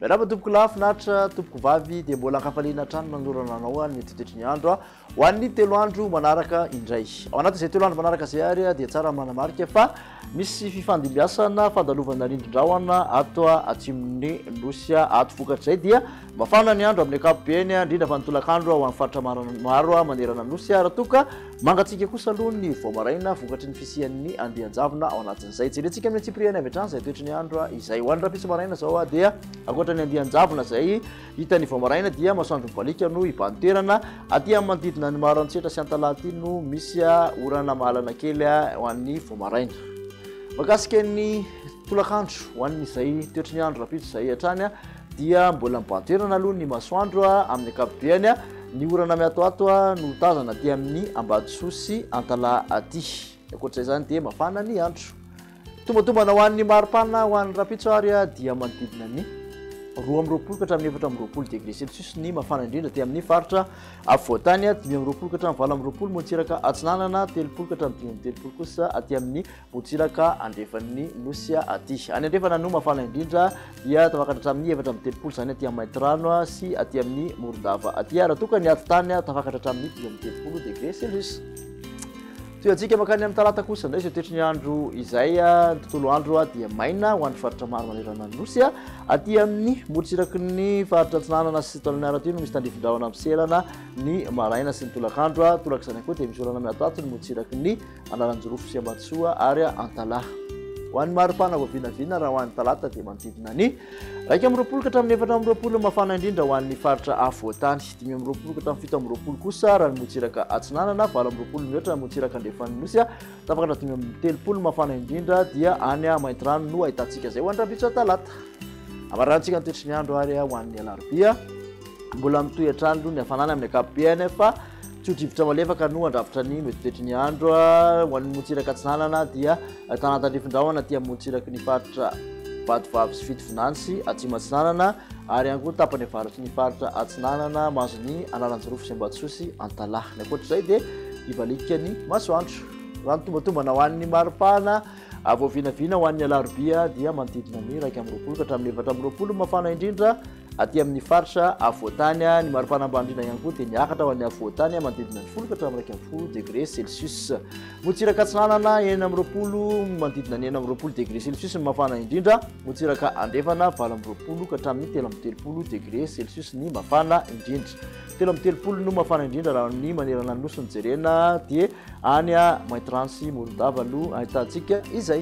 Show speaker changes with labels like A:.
A: Miarahaba tompoko lahy finaritra tompoko vavy dia mbola ankafaliana hatrany manolorana anao any mitetitry ny andro a ho an'ny telo andro manaraka indray ao anatin'izay telo andro manaraka izay ary dia tsara manamarika fa Misy fifandimbiasana fandalovana rindrin-drahona ato atsimon'ny Nosy ato. Vokatr'izay dia mafana ny andro amin'ny ankapobeny, indrindra fa ny tolakandro ho an'ny faritra maro manerana ny Nosy, raha toa ka mangatsiaka kosa aloha ny vao maraina vokatry ny fisian'ny andian-javona ao anatin'izay. Jerentsika amin'ny antsipiriany avy hatrany izay toetry ny andro izay. Ho an'ny rahampitso maraina izao dia ankoatra ny andian-javona izay, Hita ny vao maraina dia masoandro mibaliaka no hibahan-toerana. Aty amin'ny manodidina ny Maharantsetra sy Antalaha aty no misy orana mahalana kely ho an'ny vao maraina. Makasika ny tolakandro ho an'izay toetry ny andro rapitso izay hatrany dia mbola mibahan-toerana aloha ny masoandro amin'ny akapobeany. Ny orana miatoato no tazana aty amin'ny Ambatosoa sy Antalaha aty. Ankoatr'izay izany dia mafana ny andro. Tombatombana ho an'ny maripana ho an'ny rapitso ary dia manodidina ny roa amby roapolo ka hatramin'ny efatra amby roapolo degré celsius ny mafana indrindra aty amin'ny faritra afovoantany dimy amby roapolo ka hatramin'ny valo amby roapolo motsiraka atsinanana telopolo ka hatramin'ny dimy amby telopolo kosa aty amin'ny motsiraka andrefan'ny nosy aty any andrefana no mafana indrindra dia tafakatra hatramin'ny efatra amby telopolo izany aty amin'ny maintirano sy aty amin'ny morondava aty raha toa ka ny atitany tafakatra hatramin'ny dimy amby telopolo degré celsius Tohiantsika mankany amin'ny talata kosa indray izay toetry ny andro izay ny tontolo andro dia maina ho an'ny faritra maro manerana ny nosy aty amin'ny morotsiraky ny faritra antsinanana sy tolony miaratra no misy tandrifindrahona miserana ny maraina sy ny tolakandro tolaka izany koa dia misy olana miatoato ny morotsiraky ny analanjirofo sy ambatsoa ary antalaha ho an'ny maripana vao vinavina raha ho an'ny talata dia manodidina ny raika amin'ny roapolo ka hatramin'ny efatra amin'ny roapolo mafana indrindra ho an'ny faritra afovoantany dimy amby roapolo ka hatramin'ny fito amby roapolo kosa raha ny motsiraka atsinanana valo amby roapolo mihoatra ny motsiraka andrefan'ny nosy a tafaka hatramin'ny dimy amby telopolo mafana indrindra dia any a maintirano no ahitantsika izay ho any rabitso talata amarantsika ny toetry ny andro ary a ho an'ny alarobia mbola mitohy hatrany aloha ny hafanana amin'ny ankapobehany fa tsy ho drivotra malefaka no handrafitra ny mety toetry ny andro a ho an'ny motsiraka atsinanana dia Ahitana antanindrifin-drahona aty amorontsiraky ny faritra Vatovavy sy Fitovinany sy Atsimo Atsinanana ary ihany koa tapany avaratry ny faritra Atsinanana mahazo ny Analanjirofo sy Ambatosoa sy Antalaha. Ny ankoatr'izay dia hivaliaka ny masoandro. Raha ny tombatombana ho an'ny mari-pahana vao vinavina ho an'ny alarobia dia manodidina ny iraika amby roapolo ka hatramin'ny efatra amby roapolo ny mafana indrindra, Aty amin'ny faritra afovoantany, ny maripana ambany indrindra ihany koa dia miakatra ho an'ny afovoantany manodidina ny folo ka hatramin'ny iraika ambin'ny folo degré Celsius. Motsiraka Atsinanana enina amby roapolo manodidina ny enina amby roapolo degré Celsius ny mafana indrindra. Motsiraka Andrefana valo amby roapolo ka hatramin'ny telo amby telopolo degré Celsius ny mafana indrindra. Telo amby telopolo no mafana indrindra raha ny manerana ny nosy no jerena dia any Maintirantsy Morondava no ahitantsika izay.